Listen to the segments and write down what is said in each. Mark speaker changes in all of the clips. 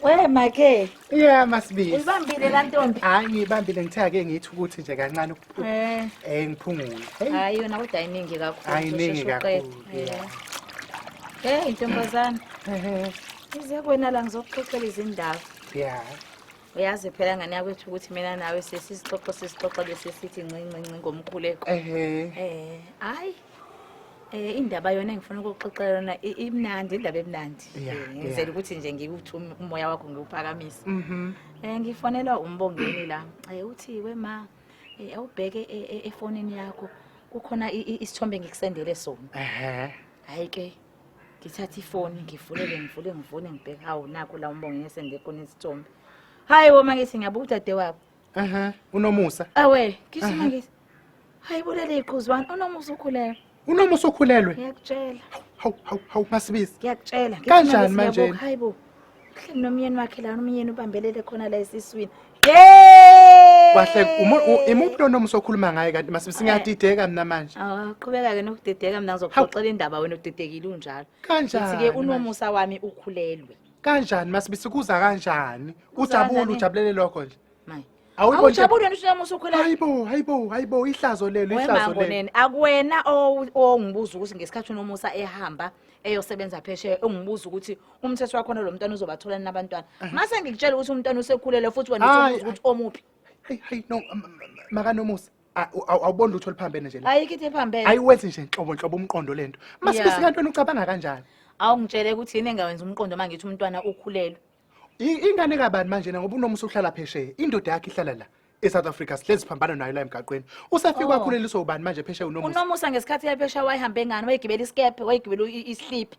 Speaker 1: We make. Yeah masibisi.
Speaker 2: Uyibambile la ntombi.
Speaker 1: Hayi ngiyibambile ngithe
Speaker 2: ake ngithi ukuthi nje kancane eh. eh ngiphungule. Hayi yona
Speaker 1: kodwa iningi kakhulu. Hayi iningi kakhulu.
Speaker 2: Hey
Speaker 1: ntombazana. Ehe. Ize kwena la ngizokuxoxela izindaba. Yeah.
Speaker 2: uyazi
Speaker 1: phela ngane yakwethu ukuthi mina nawe sesisixoxo sesixoxo bese sithi ncincinci ngomkhuleko ehe eh hayi Eh indaba yona engifuna ukuxoxela yona i- imnandi indaba emnandi. Yeah, Eh, Ngizela yeah. ukuthi nje ngikuthi um- umoya wakho ngiwuphakamisa. Mhm. Eh ngifonelwa umbongeni la. Eh uthi we ma eh, awubheke e- e- efonini yakho kukhona i- i- isithombe ngikusendele sona. Ehhe. Hayi ke ngithatha ifoni ngivulele ngivule ngivule ngibheke hawu nakho la umbongeni esende khona isithombe. Hayi woma ngithi ngiyabuka udade wakho. Aha, unomusa.
Speaker 2: Awe,
Speaker 1: gijima ngithi. Hayi bulele iqhuzu wani unomusa ukhulelwe. Unomusa ukhulelwe?
Speaker 2: Ngiyakutshela.
Speaker 1: Hawu hawu hawu
Speaker 2: masibizi. Ngiyakutshela. Kanjani
Speaker 1: manje?
Speaker 2: Hayibo. Uhleli
Speaker 1: nomyeni wakhe la umyeni ubambelele khona la esiswini. Yey! Wahle
Speaker 2: imuphi lo nomusa okhuluma ngaye kanti masibizi eh. ngiyadideka mina manje. Awu qhubeka ke nokudideka
Speaker 1: mina ngizokuxoxela indaba wena udidekile unjalo. Kanjani? Sithi ke
Speaker 2: unomusa
Speaker 1: wami ukhulelwe. kanjani masibisi
Speaker 2: kuza kanjani ujabule kanjani? ujabulele lokho nje Mayi. Awuyiboni
Speaker 1: nje- awujabuli wena ushela musa ukhwela hayibo hayibo hayibo ihlazo
Speaker 2: lelo ihlazo lelo wemangoneni akuwena
Speaker 1: owu- ongibuza ukuthi ngesikhathi unomusa ehamba eyosebenza phesheya ungibuza ukuthi umthetho wakhona lo mntwana uzobatholani nabantwana mase ngikutshela ukuthi umntwana usekhulele futhi wena Hayi, usubuza ukuthi omuphi hayi hayi no m- m-
Speaker 2: makanomusa A- u- awu- awuboni lutho oluphambene nje la ayikho into ephambene ayiwenzi
Speaker 1: nje nhlobo nhlobo
Speaker 2: umqondo le nto Yeah. masibe sikantweni ucabanga kanjani awungitshele ukuthi
Speaker 1: yini engawenza umqondo uma ngithi umntwana ukhulelwe I- ingane
Speaker 2: kabani manje na ngoba unomusa uhlala phesheya indoda yakhe ihlala la e-south africa sihlezi siphambana nayo la emgaqweni usafike Oh. wakhuleliswa ubani manje phesheya unomusa unomusa ngesikhathi yaphesha
Speaker 1: wayihambe ngani wayigibela isikebhe wayigibela i- isliphi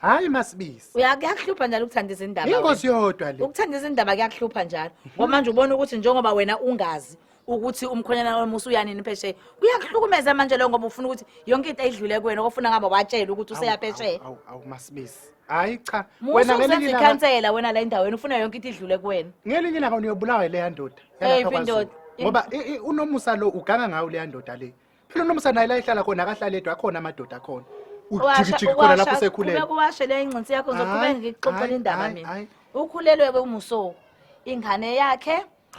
Speaker 1: hayi
Speaker 2: masibisi Uya- kuyakuhlupha njalo ukuthanda
Speaker 1: izindaba wena. ingozi yodwa le
Speaker 2: ukuthanda izindaba kuyakuhlupha
Speaker 1: njalo ngoba manje ubona ukuthi njengoba wena ungazi ukuthi umkhonyana wami usuyanini phesheya kuyakuhlukumeza manje leyo ngoba ufuna ukuthi yonke into ayidlule kuwena ofuna ngabe watshela ukuthi useya phesheya Awu, awu, awu masibisi
Speaker 2: hayi cha musa wena uzenza ngelinye ilanga
Speaker 1: ikhansela wena la endaweni ufuna yonke into idlule kuwena ngelinye ilanga uniyobulawa
Speaker 2: ileya ndoda Eyiphi yalapha KwaZulu. indoda? ngoba i- i- unomusa lo uganga ngawo leya ndoda le Phela unomsa naye la ehlala khona akahlale edwa akhona amadoda akhona. Ujikijiki khona lapho sekhulele. Kuwashe le ingcinsi yakho
Speaker 1: ngizoqhubeka ngikuxoxela indaba mina. Ukhulelwe ke umuso. Ingane yakhe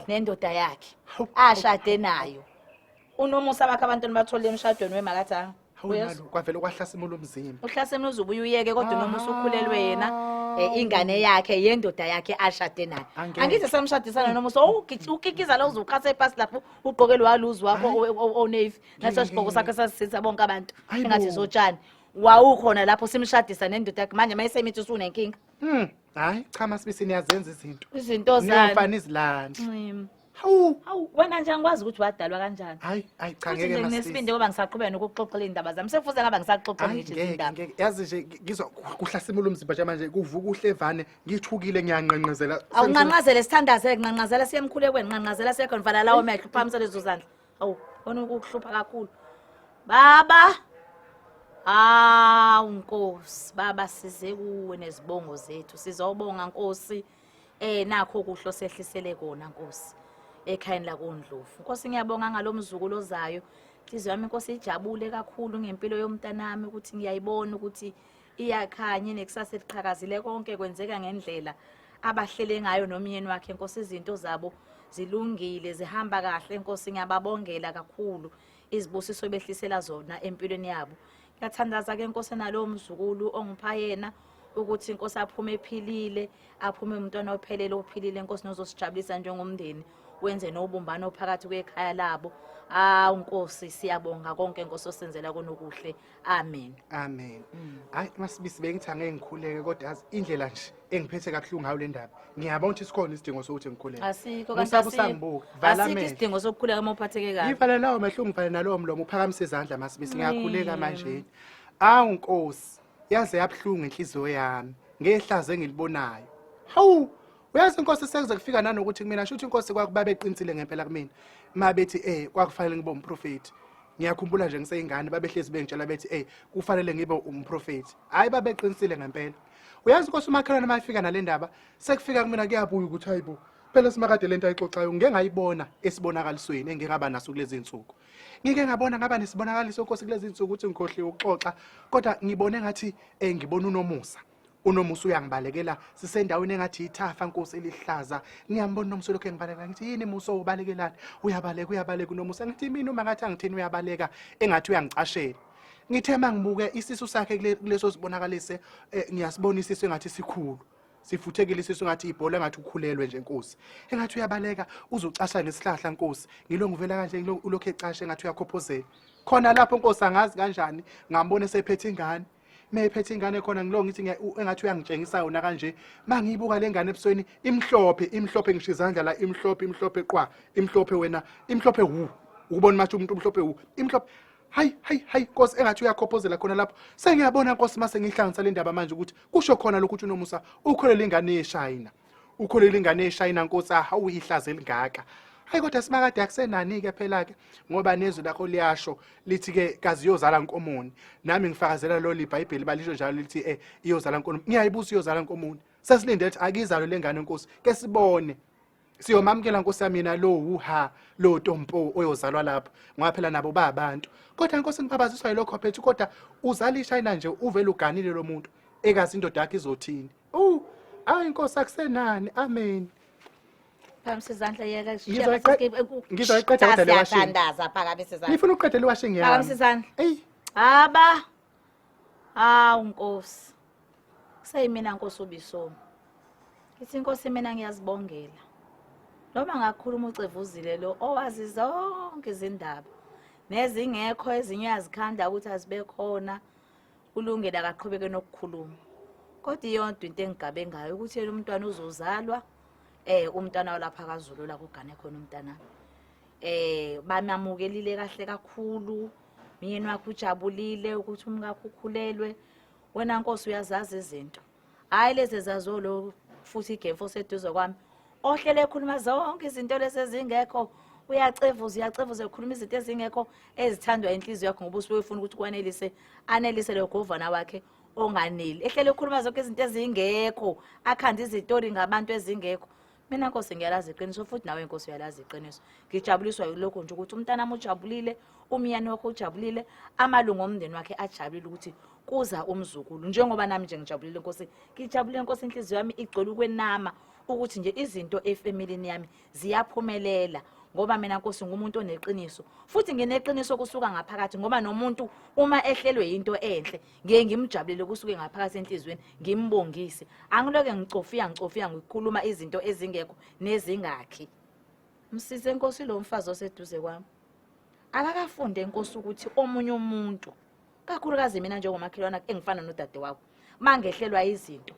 Speaker 1: nendoda yakhe ashade nayo. Unomusa bakhe abantwana bathole emshadweni wemakathanga. Uyezwa kwavela
Speaker 2: ukwahlasimula umzimba. Uhlasimula uzubuye uyeke
Speaker 1: kodwa unomusa ukhulelwe yena. Eh, ingane yakhe yendoda yakhe ashade nayo angithi samshadisana nomusa ukikiza lo uzuqhatha epasi lapho ugqoke lwaluzi wakho onavy naso sigqoko sakhe sasisitha bonke abantu engathi zotshani wawukhona lapho simshadisa nendoda yakhe manje mayesemithi usunenkinga hmm. hayi
Speaker 2: cha masibisi niyazenza izinto izinto
Speaker 1: zaniyofana izilanda
Speaker 2: hawu
Speaker 1: hawu wena nje angikwazi ukuthi wadalwa kanjani hayi hayi cha ngeke masibisi
Speaker 2: nginesibindi ngoba ngisaqhubeka
Speaker 1: nokuxoxela indaba zami sefuze ngaba ngisaxoxa ngithi indaba yazi nje ngizwa
Speaker 2: kuhlasimula umzimba nje manje kuvuka uhlevane ngithukile ngiyanqanqazela awunqanqazele
Speaker 1: sithandaze nqanqazela siye emkhulekweni nqanqazela siye khona vala lawo mehlo uphakamise lezo zandla awu khona ukukuhlupha kakhulu baba hawu nkosi baba size kuwe nezibongo zethu sizobonga nkosi eh nakho kuhlo sehlisele kona nkosi ekhayeni lakondlovu nkosi ngiyabonga ngalomzukulu ozayo inhliziyo yami inkosi ijabule kakhulu ngempilo yomntanami ukuthi ngiyayibona ukuthi iyakhanye nekusasa eliqhakazile konke kwenzeka ngendlela abahlele ngayo nomyeni wakhe nkosi izinto zabo zilungile zihamba kahle nkosi ngiyababongela kakhulu izibusiso behlisela zona empilweni yabo ngiyathandaza ke nkosi nalowo mzukulu ongipha yena ukuthi inkosi aphume ephilile aphume umntwana ophelele ophilile inkosi nozosijabulisa njengomndeni wenze nobumbano phakathi kwekhaya labo awu nkosi siyabonga konke nkosi osenzela konokuhle amen amen mm.
Speaker 2: hayi masibisi bengithi angeke ngikhuleke kodwa yazi indlela nje engiphethe kabuhlungu ngayo le ndaba ngiyabona ukuthi sikhona isidingo sokuthi ngikhuleke asikho kanti
Speaker 1: usangibuka asikho isidingo sokukhuleka uma uphatheke kabi ngivale lawo mehlo ngivale
Speaker 2: nalowo mlomo uphakamise izandla masibisi ngiyakhuleka mm. manje awu nkosi yaze yabuhlungu inhliziyo yami ngehlazo engilibonayo hawu uyazi inkosi sekuze kufika nanokuthi kumina shuthi inkosi kwakubabeqinisile ngempela kumina ma bethi eh kwakufanele ngibe umprofethi ngiyakhumbula nje ngiseyingane babehlezi bengitshela bethi ey kufanele ngibe umprofethi hhayi babeqinisile ngempela uyazi inkosi umakhelwane uma efika nale ndaba sekufika kumina kuyabuya ukuthi hayi bo phela simakade le nto ayixoxayo ngike ngayibona esibonakalisweni engike ngaba naso kulezi nsuku ngike ngabona ngaba nesibonakaliso nkosi kulezi nsuku ukuthi ngikhohliwe ukuxoxa kodwa ngibone ngathi um ngibona unomusa unomusa uyangibalekela sisendaweni engathi ithafa nkosi elihlaza ngiyambona unomusa lokho engibalekela ngithi yini musa ubalekelani uyabaleka uyabaleka unomusa ngithi mina uma ngathi angithini uyabaleka engathi uyangicashela ngithe mangibuke isisu sakhe kuleso sibonakalise eh, ngiyasibona isisu engathi sikhulu sifuthekile isisu ngathi ibhola ngathi ukhulelwe nje nkosi engathi uyabaleka uzucasha ngesihlahla nkosi ngilo ngivela kanje ngilokhu ecashe ngathi uyakhophozela khona lapho nkosi angazi kanjani ngambona sephethe ingane mephethe ingane khona ngilo ngithi engathi uyangitshengisa yona kanje mangiyibuka lengane ebusweni imhlophe imhlophe ngisho izandla la imhlophe imhlophe qwa imhlophe wena imhlophe wu ukubona mathi umuntu umhlophe wu imhlophe hayi hayi hayi nkosi engathi uyakhophozela khona lapho sengiyabona nkosi mase ngihlanganisa le ndaba manje ukuthi kusho khona lokhu uthi unomusa ukholele ingane yeshayina ukholelwa ingane eshayina nkosi ahawu ihlaze elingaka hayi kodwa simakade akusenani-ke phela-ke ngoba nezwi lakho liyasho lithi-ke kazi iyozala nkomoni nami ngifakazela lo libhayibheli balisho njalo lithi um iyozala nkomoni ngiyayibusa iyozala nkomoni sesilinde lithi akizalo le ngane nkosi ke sibone siyomamukela nkosi yami yena lo wuha lo tompo oyozalwa lapho ngoba phela nabo ba abantu kodwa nkosi ngibabaziswa yilokho phethu kodwa uzala ishayina nje uvele uganile lo muntu ekazi indoda yakhe izothini Uh, ayi inkosi akusenani. Amen. Phakamisa
Speaker 1: izandla yeka
Speaker 2: Ngizoyiqeda kodwa le washing. Siyadandaza phakamisa izandla.
Speaker 1: Ngifuna uqede le washing yami.
Speaker 2: Phakamisa izandla. Ey.
Speaker 1: Haba. Hawu Nkosi. Seyimina Nkosi ubisomi. Ithi Nkosi mina ngiyazibongela. Noma ngakhuluma ucevuzile lo owazi zonke izindaba. Nezingekho ezinye uyazikhanda ukuthi azibekhona. ulungile akaqhubeke nokukhuluma kodwa iyonto into engigabe ngayo ukuthi yena umntwana uzozalwa eh umntwana walapha kaZulu la kugane khona umntana eh bamamukelile kahle kakhulu myeni wakhe ujabulile ukuthi umkakhe ukhulelwe wena nkosi uyazazi izinto hhayi lezi zazolo futhi igemfu oseduze kwami ohlele ekhuluma zonke izinto lezi ezingekho uyacevuza uyacevuza ekhuluma izinto ezingekho ezithandwa inhliziyo yakho ngoba usuke ufuna ukuthi kwanelise anelise leyo govana wakhe onganeli ehlele ekhuluma zonke izinto ezingekho akhanda izitori ngabantu ezingekho mina nkosi ngiyalazi iqiniso futhi nawe nkosi uyalazi iqiniso ngijabuliswa yilokho nje ukuthi umntanami ujabulile umyeni wakho ujabulile amalungu omndeni wakhe ajabulile ukuthi kuza umzukulu njengoba nami nje ngijabulile nkosi ngijabulile nkosi inhliziyo yami igcwele ukwenama ukuthi nje izinto efamilini yami ziyaphumelela ngoba mina nkosi ngumuntu oneqiniso futhi ngineqiniso kusuka ngaphakathi ngoba nomuntu uma ehlelwe into enhle ngiye ngimjabulele kusuke ngaphakathi enhliziyweni ngimbongise angiloke ngicofiya ngicofiya ngikhuluma izinto ezingekho nezingakhi msize inkosi lo mfazi oseduze kwami akakafunde inkosi ukuthi omunye umuntu kakhulukazi mina njengomakhelwana engifana nodade wakho mangehlelwa izinto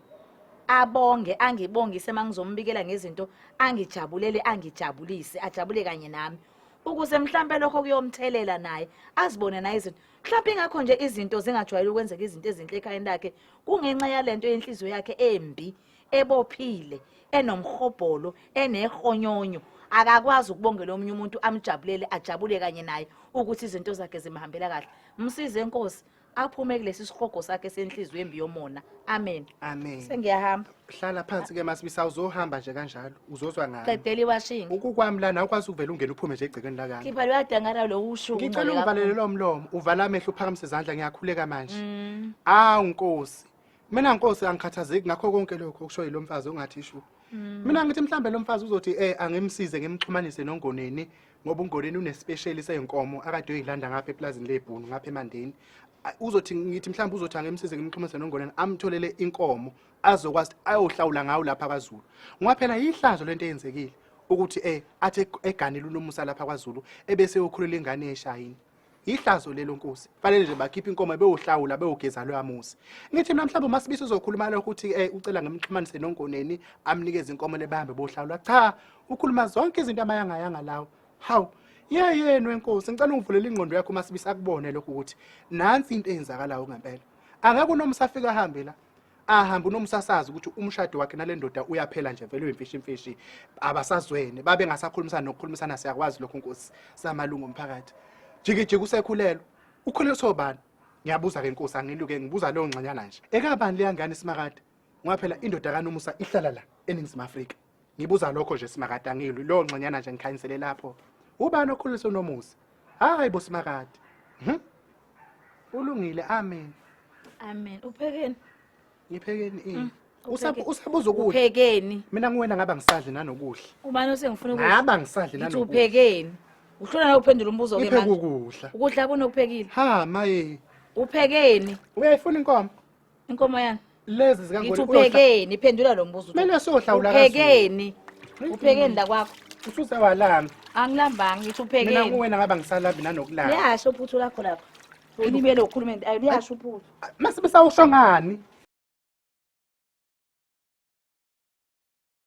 Speaker 1: abonge angibongise mangizombikela ngezinto angijabulele angijabulise ajabule kanye nami ukuze mhlambe lokho kuyomthelela naye azibone naye izinto mhlawumbe ingakho nje izinto zingajwayele ukwenzeka izinto ezinhle ekhayeni lakhe kungenxa yalento yenhliziyo yakhe embi ebophile enomhobholo enehonyonyo akakwazi ukubongela omunye umuntu amjabulele ajabule kanye naye ukuthi izinto zakhe zimhambela kahle msize inkosi aphume kulesi sihogo sakhe senhliziyo embi yomona amen amen sengiyahamba hlala phansi
Speaker 2: ke masibisa uzohamba nje kanjalo uzozwa ngani qedela iwashingi ukukwami
Speaker 1: lana ukwazi
Speaker 2: ukuvela ungena uphume nje egcekeni lakami khipha luyadangara lo
Speaker 1: usho ngicela ungivalele lo
Speaker 2: mlomo uvala amehlo uphakamise izandla ngiyakhuleka manje mm. awu nkosi mina nkosi angikhathazeki ngakho konke lokho okusho yilo mfazi ongathi ishu mm. mina ngithi mhlambe lo mfazi uzothi eh angimsize ngimxhumanise nongoneni ngoba ungoneni unespecial seyinkomo akade uyilanda ngapha eplazini lebhunu ngapha emandeni uzothi ngithi mhlawumbe uzothi angemsize ngimxhumise nongoneni amtholele inkomo azokwazi ukuthi ayohlawula ngawo lapha kwaZulu ngoba phela yihlazo lento eyenzekile ukuthi eh athi eg- eganile unomusa lapha kwaZulu ebese ukhulela ingane yeshayini yihlazo lelo nkosi fanele nje bakhiphe inkomo beyohlawula beyogeza loya muzi ngithi mina mhlawumbe umasibisi uzokhuluma lokho ukuthi eh ucela ngimxhumanise nongoneni amnikeze inkomo lebahambe bohlawula cha ukhuluma zonke izinto amayangayanga lawo hawu ye yenu enkosi ngicela ungivulele ingqondo yakho umasibisi akubone lokho ukuthi nansi into eyenzakalayo ngempela angeke unomusa afike ahambe la ahambe unomsasazi ukuthi umshado wakhe nale ndoda uyaphela nje vele uyimfishi imfishi abasazwene babe ngasakhulumisana nokukhulumisana siyakwazi lokho nkosi samalungu omphakathi jikijiki usekhulelwe ukhuleliswa ubani ngiyabuza ke nkosi angiluke ngibuza leyo ngxanyana nje ekabani leyangane simakade ngoba phela indoda kanomusa ihlala la eningizimu afrika Ngibuza lokho nje simakade angilwi lo nxenyana nje ngikhanyisele lapho. Ubani okhulisa unomusa? Hayi bo simakade. Mhm. Ulungile amen. Amen.
Speaker 1: Uphekeni? Ngiphekeni
Speaker 2: ini? Mm, Usab- upheke. Usabuza ukudla. Uphekeni? Mina nguwena
Speaker 1: ngaba ngisadli
Speaker 2: nanokudla. Ubani osengifuna ukudla?
Speaker 1: Ngaba ngisadli Ngithi nanokudla.
Speaker 2: uphekeni?
Speaker 1: Uhlona na uphendula umbuzo ke Ngipheke manje. ukudla.
Speaker 2: Ukudla kunokuphekile.
Speaker 1: Ha maye.
Speaker 2: Uphekeni?
Speaker 1: Uyayifuna inkomo?
Speaker 2: Inkomo
Speaker 1: yani. Lezi zika Ngithi Ngoni.
Speaker 2: uphekeni phendula
Speaker 1: lo mbuzo. ukuthi Kumele siyohlawula kaZulu.
Speaker 2: Uphekeni.
Speaker 1: Uphekeni la kwakho. Ususe walami.
Speaker 2: Angilambanga ngithi
Speaker 1: Mina uphekeni. kuwena ngaba
Speaker 2: ngisalabi nanokulala. Liyasho uphuthu
Speaker 1: lakho lapho. Ulibele ukhuluma into ayi
Speaker 2: liyasho
Speaker 1: uphuthu. Mase besawusho ngani?